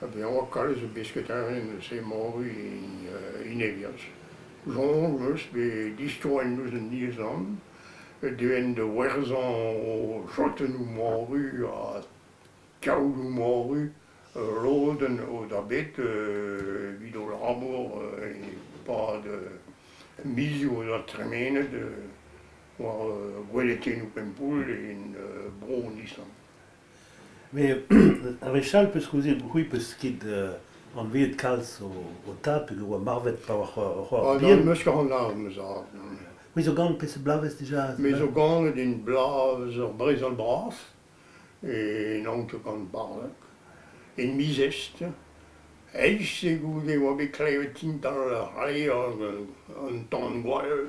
Ha bezañ kalz zo bet sketadenn eus he moru en Evians. Soñj 'm eus bet distroiñ ouzh an Island, devenn da werzhañ o chotennoù moru ha kaodoù moru, lodenn o da bet evit o labour e-pad mizioù o doa tremenet war gwellatennoù Pempoull en bro an Island. Met a wechall 'peus kouzet c'hwi 'peus ket anveet kalz ho ho tad p'en doa marvet pa oa c'ho- c'hoar Ah, bihan. na, 'm eus ket anavet ma zad. non. C'hwi zo gant peseurt bloavezh dija? Me zo ganet en bloavezh ur brezel bras, e n'on ket gant barlek, en miz Est. Eizh eo goude e oa bet klevet tintal ar c'hleier un tamm gwall.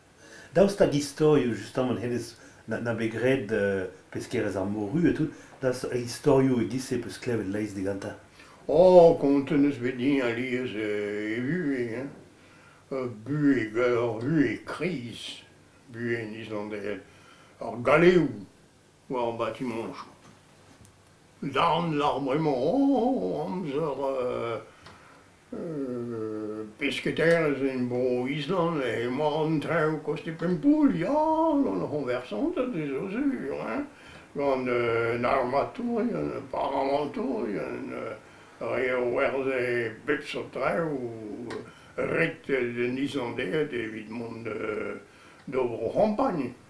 Daoust hag istorioù justamant hennezh na bet graet peskerezh ar Moru e tout, daoust ha istorioù e-giz-se 'peus klevet laezh digantañ? Oh, kontet 'neus bet din alies ivez buhez gaor Hué Kriz, buhez islandel ar galeoù war ar batimañjoù. Darn 'lar bremañ, oh, amzer Pesketaerezh en Bro-Island emañ an traoù kost e Pempoull ya, gant ar c'hoñversañs azezo sur hein, gant an armatourien, an paramañtourien, re o werzhe bep seurt traoù ret en Islandaed evit mont d'o bro-C'hampagn.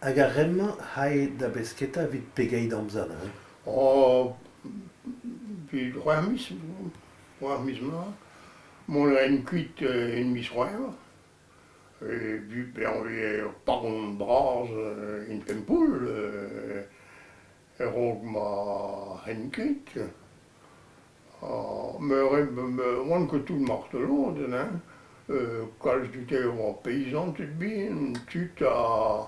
Hag ar re-mañ 'c'hae da besketa evit pegeit amzer neuze? Evit c'hwec'h miz, c'hwec'h miz mat. Mont a raen kuit en miz C'hwevrer. Bezañ ur paron bras, une pempoull. a-raok ma ren ket. Oan ket tout martoloded, hein. Kalz dute a oa peizanted bihan, tud a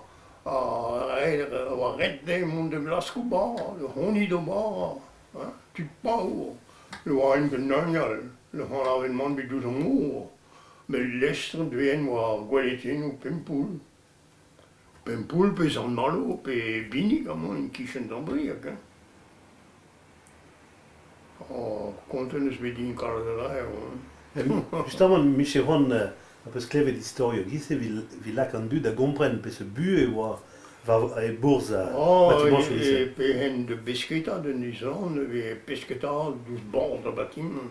red dezhe mont da glask o bad, honnit o bad, hein. Tud paour, ne oaent ket naon all, ne c'hanavent mann bet ouzh ar mor. Met lestr int dezhe oa gweletenoù Pempoull, Pempoull pe Sant-Malo pe Binig amañ e-kichen Dambrieg hein. Oh, kontet 'neus bet din kaout a laer on. Justamant, micher Ron a peus klevet istorioù a-giz-se evit evit lak an dud da gompren peseurt buhez e oa war e-bourzh Oh, batimañsoù e- e e-se. pehen de besketa, d'un island, e vez pesketa diouzh bord ar batimant.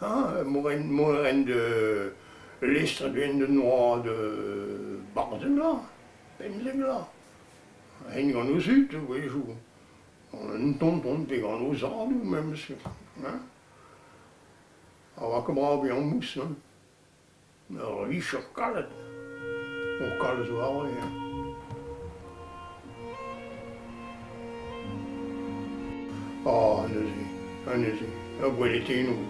A mont a ren da lestr a-benn d'an oad barzheglañ, pemzeglañ, ren gant o zud a-wezhoù, un tonton pe gant o zadoù memes, hein, a oa kammarañ bezañ mouss, hein. Ur vicher kalet o kalz warni-eñ. Ah, neuze, anezhe, ur gweletenoù.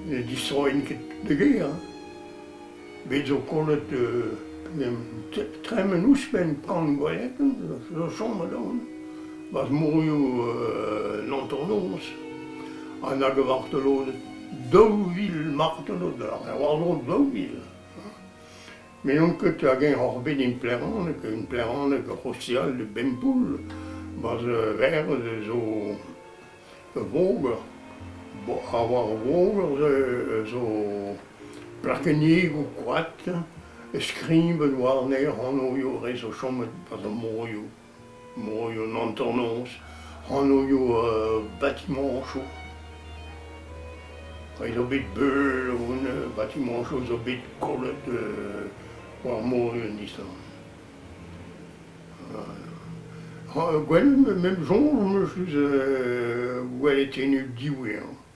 Ne distroint ket da gêr hein. Bet zo kollet tremen ouzhpenn pan gwelenn, zo chom a-daol. Barzh mourioù l'antonoz, ha nag a vartoloded. daou vil marteze ober, ha war-dro daou vil. Me n'on ket hag-eñ oc'h bet en Pleraneg, en Pleraneg rosial de Bempoul, ma 'z verz zo ur voger. Bo ha war ur voger zo plakennigoù koad, e skribed warne hanoioù 'rez o chomet 'ba ar morioù. Morioù an hanternoz, hanoioù batimañsoù. Ret eo bet beul o batimañsoù zo bet kollet war mor an Island. Ha gwell, met soñj 'm eus gwelet ene diwezhañ.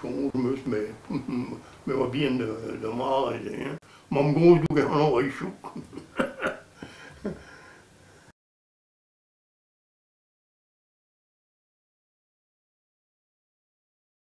Soñj 'm eus, me 'oa bihan da mare se hein. Mamm-gozh doug er c'hlañvreizh